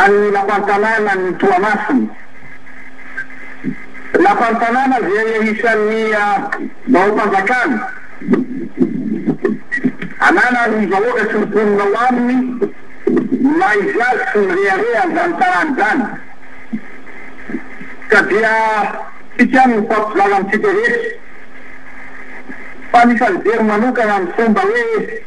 an'ny Lapan'ny tanànan'i Toamasina. Lapan'ny tanàna izay isan'ny baom-panjakana ananan'ny vahoaka sy ny mponina ao aminy ny maha izy azy sy ny rehareha an'izany tanàna izany ka dia isika no mifampizara amintsika rehetra fa ny fanibery manokana ny fomba hoe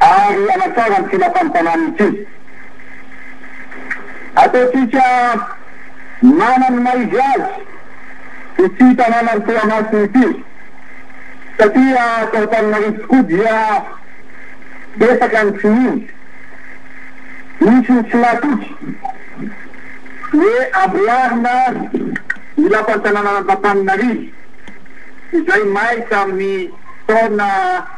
ary hanatsara ny tsinantan'ny tanàna ity. Ataontsika manan' ny maha izy azy ity tanàna ny Toamasina ity, satria ato Antananarivo tokoa dia betsaka ny tsy mino, misy ny tsy natoky hoe amboarina ny lapan'ny tanànan'Antantaninarivo izay may tamin'ny taona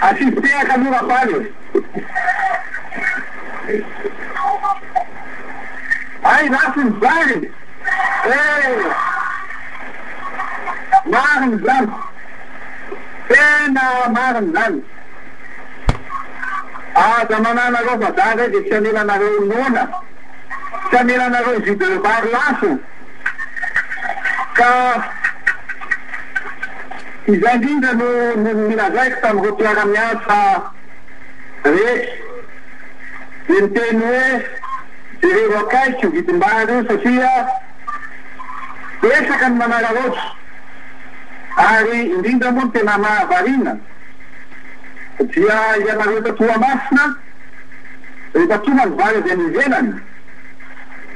Asiso tehaka aloha Rapaly e! Hay ratsy ny zary e! Marina izany! Tena marina izany! Aza mananareo vazaha izay dia tsy hamelanareo noana, tsy hamelanareo jus de bar lafo. Ka izay indrindra no nilazaiko tamin'ireo mpiara-miasa rehetra, dia niteny hoe, jereo akaiky io vidim-bary io satria betsaka ny manararaotra, ary indrindra moa ny tena mahavariana dia ianareo eto Toamasina rehefa tonga ny vary avy any ivelany,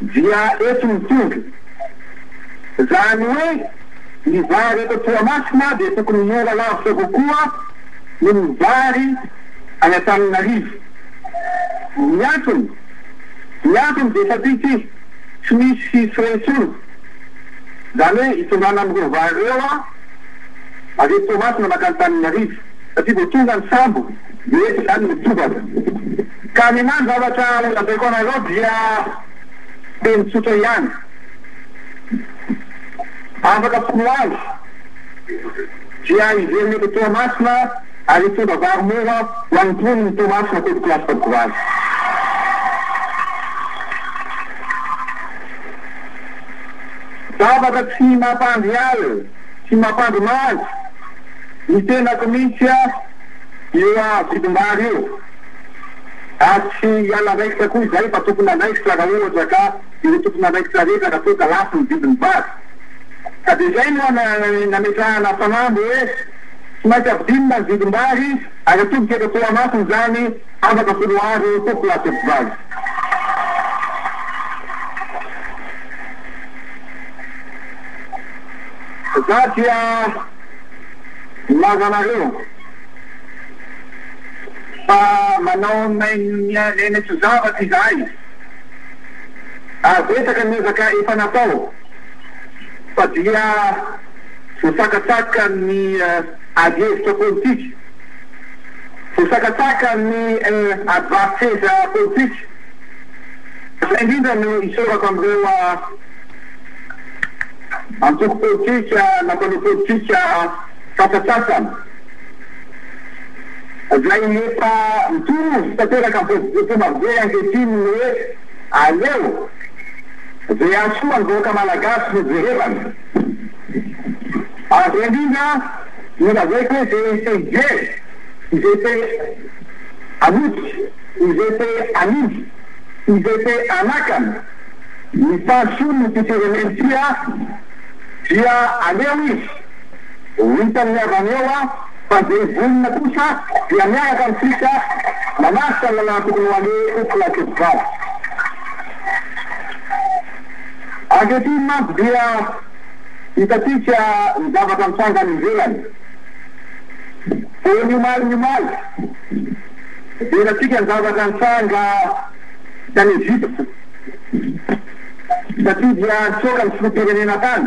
dia eto ny tondro. Izany hoe ny vary eto Toamasina dia tokony mora lavitra kokoa noho ny vary any Antananarivo. Ny antony? Ny antony dia satria ity tsy misy frais intsony, izany hoe hitondrana an'ireo vary ireo avy eto Toamasina mankany Antananarivo, satria vao tonga ny sambo dia eto izany mitobaka. Ka ny maha ny zavatra lazaiko anareo dia teny tsotra ihany. Afaka mpino azy dia hiverina eto Toamasina ary hitondra vary mora ho an'ny mponin'i Toamasina teto Place Bakovaly. Zavatra tsy mampandry ahy sy mampandry maso ny tenako mihitsy io vidim-bary io. Ary tsy hiala raikitra koa izahay fa tompon'andraikitra raha ohatra ka ireo tompon'andraikitra rehetra raha toa ka lafo ny vidin'ny vary. Ka dia izay no nametrahana fanamby hoe tsy maintsy ampidinina ny vidim-bary ary atolotra eto Toamasina izany afaka foloaro toko lasopy vary. Za dia milaza anareo. Fa manao main-miha-miaina tsy zavatra izahay, ary betsaka ny ezaka efa natao, fa dia voasakasaka amin'ny adihevitra politika, voasakasaka amin'ny adivarin-tseza politika. Izay indrindra no isaorako amin'ireo antoko politika na mpanao politika. Sasantsasany izay efa mitovy tanteraka amin'ny fomba be ankehitriny ny hoe aleo izay hahasoa ny vahoaka malagasy no jerevana. Ary indrindra no lazaiko hoe izay te hijery, izay te hanoty, izay te hanindry, izay te hanakana ny fahasoan'ity firenena ity dia aleo izy. Ho hitan'ny havany eo fa izay vonona kosa dia miaraka amintsika manatrika ny lalàna tokony ho aleha eto Antsehatra. Ankehitriny mantsy dia hitantsika ny zavatra mitranga any ivelany. Vao ny omaly ny omaly dia hitantsika ny zavatra nitranga tany Egypte satria dia nitsoaka ny filoham-pirenena tany.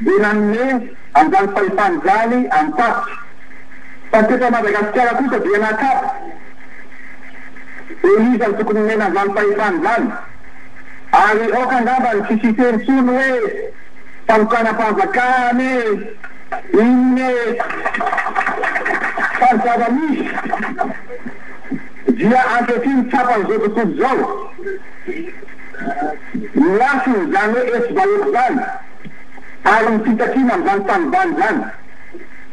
dia nanome an'izany fahefana izany an'i Taty, fa teto Madagasikara kosa dia nakato hoe iza no tokony nomena an'izany fahefana izany, ary aoka angamba ny tsisy hiteny intsony hoe fanokanam-panjakana e, inona e, fa ny zava-misy dia ankehitriny tsapan'izao tontolo izao. Ny lafiny, izany hoe etsy daholo izany, ary ny fitakiana amin'izany tanimbary izany.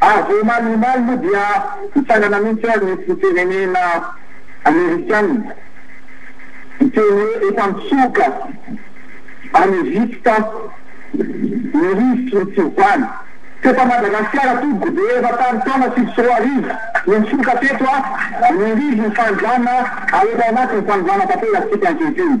Ary vao omaly omaly moa dia nitsangana mihitsy ary ny firenena amerikana niteny hoe efa mitsoka any Egypta ny rivotry ny fiovana. Teto Madagasikara tompoko dia efa tamin'ny taona sivy sy roa arivo no nitsoka teto ny rivon'ny fanovana ary efa ao anatin'ny fanovana tanterakantsika ankehitriny.